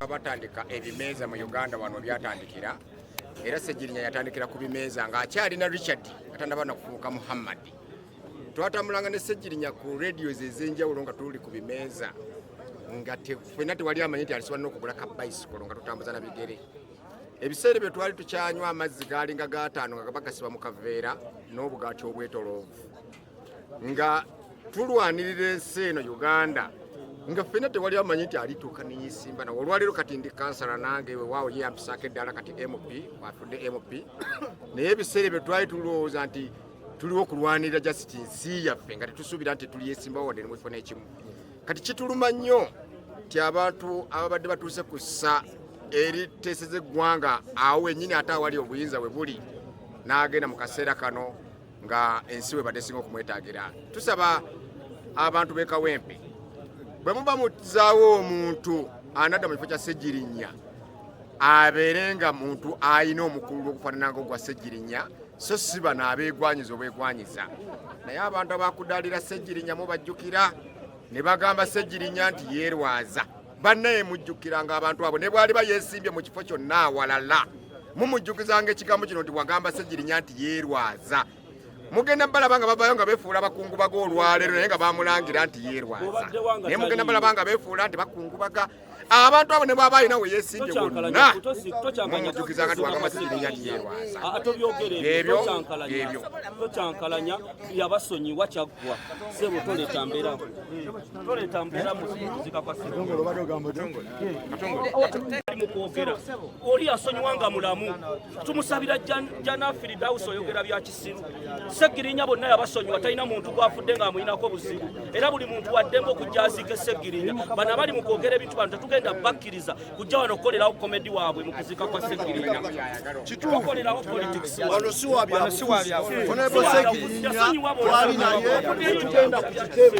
batandika ebimeeza mu uganda wano byatandikira era segirinya yatandikira ku bimeeza ng'akyalina richard atanaba nakufuuka muhammad twatambulanga ne segirinya ku radios ez'enjawulo nga tuli ku bimeeza nga fena tewali amanyi nti alisobola n'okugula ka bicycle nga tutambuza na bigere ebiseera bye twali tukyanywa amazzi gaalinga gataano nga gaba gasiba mu kaveera n'obugaati obwetoloovu nga tulwanirira ensi eno uganda nga ffena tewali amanyi nti alituuka neyisimba nawe olwaleero kati ndi kansala nange wewaawo ye yampisaako eddala kati mp atudde mp naye ebiseera ebyo twali tulowooza nti tuliwo okulwanirira jasiti nsi yaffe nga tetusuubira nti tuliyesimbawo wadde nemufuna ekimu kati kituluma nnyo nti abantu ababadde batuuse ku ssa eriteeseza eggwanga awo wenyini ate awali obuyinza we buli n'agenda mu kaseera kano nga ensi we badde singa okumwetagira tusaba abantu b'e kawempe bwe muba muzaawo omuntu anadda mu kifo kya ssegirinya abeere nga muntu alina omukulu okufaanana nga ogwa ssegirinya so si bano abeegwanyiza obwegwanyiza naye abantu abakudaalira ssegirinya mubajjukira ne bagamba ssegirinya nti yeerwaza bannaye mujjukiranga abantu abo ne bwaliba yeesimbye mu kifo kyonna awalala mumujjukizanga ekigambo kino nti wagamba ssegirinya nti yeerwaza mugenda balaba nga bavayo nga befuula bakungubaga olwaleero naye nga bamulangira nti yeerwaza naye mugenda balaba nga befuula nti bakungubaga abantu abo ne bwaba alina we yeesimbye wonna mumujukiza nga tiwaga masikirinya nti yeerwaza ah, ah, ebyo ebyo tokyankalanya yabasonyiwa kyaggwa sebo toleeta mbeera toleeta mbeera muzika kwa sebo mu kwogera oli yasonyiwa nga mulamu tumusabira jana firidausi oyogera bya kisiru segirinya bonna yabasonyiwa talina muntu gwafudde nga amuyinako obuzibu era buli muntu waddembe okujja aziike segirinya bano abali mu kwogera ebintu bano tetugenda bakkiriza kujja wano okukolerawo komedi waabwe mu kuziika kwa segirinya kitukolerawo politicsonyiwa bonna okujja segirinya twali naye tugenda ku kitebe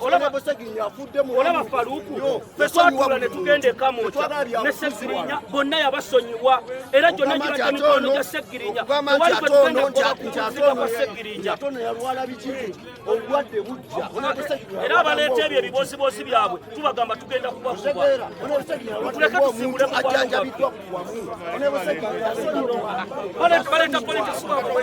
olaba Buseginya afudde mu olaba Faruku twatula ne tugenda ekamwokya ne Segirinya bonna yabasonyiwa era gyonna gibadde mikono gya Segirinya tewali gwe tugenda kukola ku kuziga kwa Segirinya era abaleeta ebyo ebibooziboozi byabwe tubagamba tugenda kubakuba tuleke tusimbule mu bwalo bwaffe baleeta politics bwabwe